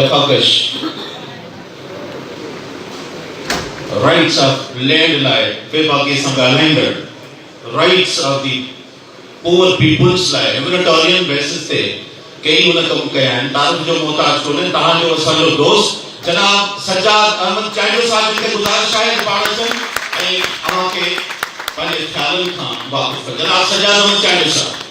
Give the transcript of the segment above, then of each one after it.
جفاڪش rights of land لاء ويڀاڳي سان ڳالهائيندڙ rights of the poor peoples لاء هيومينيٽارين بيسز تي ڪيئي هن ڪم ڪيا آهن، تعارف جو محتاج ڪونهي، توهان جو اسان جو دوست جناب سجاد احمد چانڊيو صاحب جن کي گذارش آهي ته پاڻ اچن ۽ اوهان کي پنهنجي خيالن کان واقف ڪن جناب سجاد احمد چانڊيو صاحب.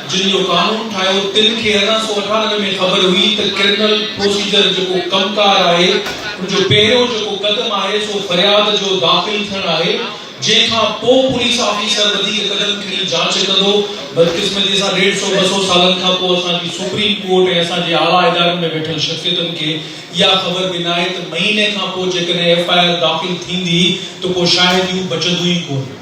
جن جو قانون ٺاهيو تن کي ارڙهن سؤ اٺانوي ۾ خبر هئي ته ڪرمنل پروسيجر جيڪو ڪم ڪار آهي ان جو پهريون جيڪو قدم آهي سو فرياد جو داخل ٿيڻ آهي جنهن کان پو پوليس آفيسر وڌيڪ قدم کڻي جاچ ڪندو بدقسمتي سان ڏيڍ سؤ ٻه سؤ سالن کان پو اسان جي سپريم ڪورٽ ۽ اسان جي اعليٰ ادارن ۾ ويٺل شخصيتن کي اها خبر به ناهي ته مهيني کان پو جيڪڏهن ايف آء آر داخل ٿيندي ته پو شاهديون بچنديون ئي ڪونه.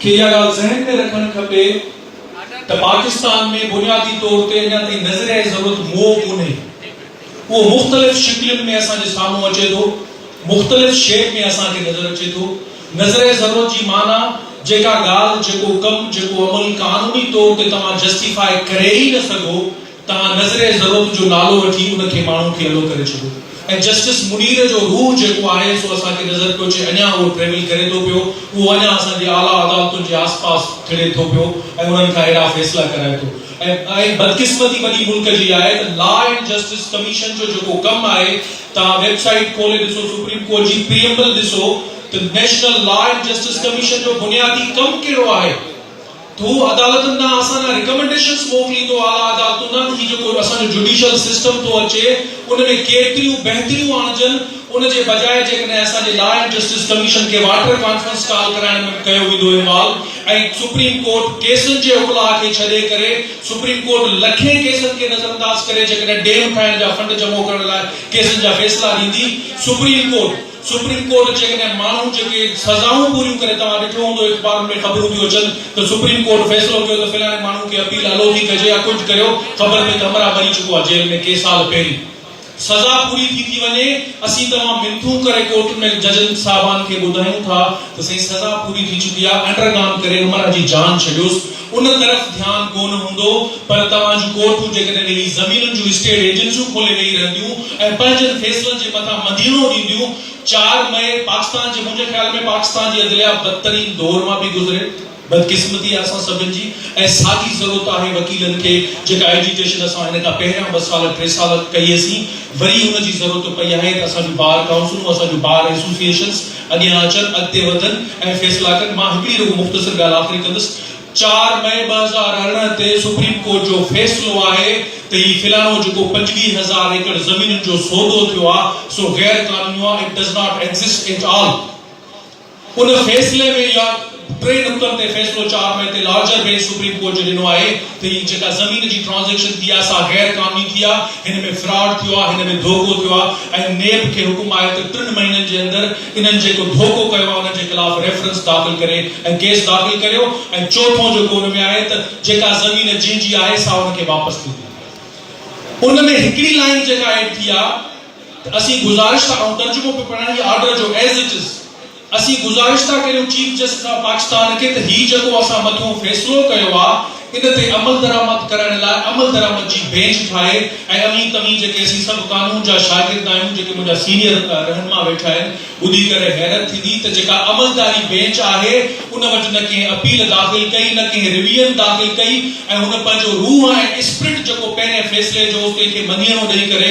کي اها ڳالهه ذهن ۾ رکڻ کپي ته پاڪستان ۾ بنيادي طور تي اڃا تائين نظريائي ضرورت موء ڪونهي. اهو مختلف شڪلين ۾ اسان جي سامهون اچي ٿو، مختلف شيپ ۾ اسان کي نظر اچي ٿو. نظريائي ضرورت جي معنيٰ جيڪا ڳالهه، جيڪو ڪم، جيڪو عمل قانوني طور تي توهان جسٽيفاء ڪري ئي نه سگهو، تان نظر ضرورت جو نالو وٺي ان کي ماڻهو کي الو ڪري ڇڏو ۽ جسٽس منير جو روح جيڪو آهي سو اسان کي نظر پيو اچي اڃان اهو ٽريول ڪري ٿو پيو اهو اڃان اسان جي اعليٰ عدالتن جي آس پاس ٿڙي ٿو پيو ۽ انهن کان اهڙا فيصلا ڪرائي ٿو ۽ بدقسمتي وڏي ملڪ جي آهي ته لا اينڊ جسٽس ڪميشن جو جيڪو ڪم آهي تان ويب سائيٽ کولي ڏسو سپريم ڪورٽ جي پريئمبل ڏسو ته national law and justice commission جو بنيادي ڪم ڪهڙو آهي. هو عدالتن ڏانهن اسان ڏانهن رڪمنڊيشنز موڪليندو اعليٰ عدالتون ڏانهن ته هي جيڪو اسان جو جڊيشل سسٽم ٿو اچي ان ۾ ڪيتريون بهتريون آڻجن ان جي بجاء جيڪڏهن اسان جي لا اينڊ جسٽس ڪميشن کي واٽر ڪانفرنس ڪال ڪرائڻ ۾ به ڪيو ويندو اهمال ۽ سپريم ڪورٽ ڪيسن جي اڪلاء کي ڇڏي ڪري سپريم ڪورٽ لکين ڪيسن کي نظرانداز ڪري جيڪڏهن ڊيم ٺاهڻ جا فنڊ جمعو ڪرڻ لاء ڪيسن جا فيصلا ڏيندي سپريم ڪورٽ سپريم ڪورٽ جيڪڏهن ماڻهو جيڪي سزائون پوريون ڪري توهان ڏٺو هوندو اخبارن ۾ خبرون ٿيون اچن ته سپريم ڪورٽ فيصلو ڪيو ته فلاڻي ماڻهو کي اپيل الو ٿي ڪجي يا ڪجھ ڪريو خبر پئي ته همراهه مري چڪو آهي جيل ۾ ڪي سال پهرين سزا پوري ٿي ٿي وڃي اسين توهان منٿون ڪري ڪورٽن ۾ ججن صاحبان کي ٻڌايون ٿا ته سائين سزا پوري ٿي چڪي آهي انڊرگان ڪري همراهه جي جان ڇڏيوس ان طرف ڌيان ڪونه هوندو پر توهان جون ڪورٽون جيڪڏهن اهي زمينن جون اسٽيٽ ايجنسيون کولي ويهي رهنديون ۽ پنهنجن فيصلن جي مٿان مدينو ڏينديون چار مئي پاڪستان جي منهنجي خيال ۾ پاڪستان جي عدليا بدترين دور مان پئي گذري بدقسمتي آهي اسان سڀن جي ۽ ساڳي ضرورت آهي وڪيلن کي جيڪا ايجيوٽيشن اسان هن کان پهريان ٻه سال ٽي سال ڪئي هئسين وري ان جي ضرورت پئي آهي ته اسان جون بار ڪائونسلون اسان جون بار ايسوسيئيشنز اڳيان اچن، اڳتي وڌن ۽ فيصلا ڪن، مان هڪڙي رڳو مختصر ڳالهه آخري ڪندس، چار مئي ٻه هزار ارڙهن تي سپريم ڪورٽ جو فيصلو آهي ته هي فلاڻو جيڪو پنجويهه هزار ايڪڙ زمينن جو سودو ٿيو آ سو غير قانونيو آ It does not exist at all ان فيصلي ۾ اها ٽئين نقطن تي فيصلو چار مئي تي لارجر بينچ سپريم ڪورٽ جو ڏنو آهي ته هي جيڪا زمين جي ٽرانزيڪشن ٿي آهي سا غير قانوني ٿي آهي، هن ۾ فراڊ ٿيو آهي، هن ۾ ڌوڪو ٿيو آهي ۽ نيب کي حڪم آهي ته ٽن مهينن جي اندر انهن جيڪو ڌوڪو ڪيو آهي ان جي خلاف ريفرنس داخل ڪري ۽ ڪيس داخل ڪريو ۽ چوٿون جيڪو ان ۾ آهي ته جيڪا زمين جنهن جي آهي سا ان کي واپس ٿيندي ان ۾ هڪڙي لائين جيڪا ايڊ ٿي آهي ته اسين گذارش ٿا ڪرون ترجمو پيو پڙهان هي آرڊر جو ايز اٽ از. اسين گذارشتا ڪريون چيف جسٽس آف پاڪستان کي ته هي جيڪو اسان مٿئون فيصلو ڪيو آ ان تي عملدرآمد ڪرڻ لاء عملدرآمد جي بينچ ٺاهي ۽ اوهين توهين جيڪي اسين سڀ قانون جا شاگرد آهيون جيڪي منهنجا سينيئر رهنما ويٺا آهن ٻڌي ڪري حيرت ٿيندي ته جيڪا عملداري بينچ آهي ان وٽ نه ڪنهن اپيل داخل ڪئي نه ڪنهن ريويئن داخل ڪئي ۽ هن پنهنجو روح ۽ اسپرٽ جيڪو پهرين فيصلي جو هو تنهن کي مڃيڻو ڏئي ڪري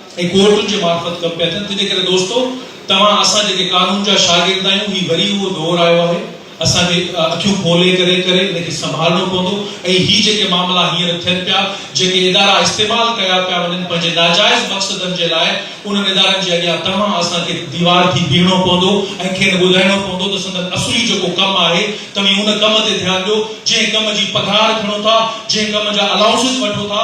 ۽ ڪورٽن جي معرفت ڪم پيا ٿين تنهن ڪري دوستو توهان اسان جيڪي قانون جا شاگرد آهيون هي وري اهو دور آيو آهي اسان کي اکيون کولي ڪري ڪري ان کي سنڀالڻو پوندو ۽ هي جيڪي معاملا هينئر ٿين پيا جيڪي ادارا استعمال ڪيا پيا وڃن پنهنجي ناجائز مقصدن جي لاء انهن ادارن جي اڳيان توهان اسان کي ديوار ٿي بيهڻو پوندو ۽ کين ٻڌائڻو پوندو ته سندن اصلي جيڪو ڪم آهي توهين ان ڪم تي ڌيان ڏيو جنهن ڪم جي پگهار کڻو ٿا جنهن ڪم جا الائونسز وٺو ٿا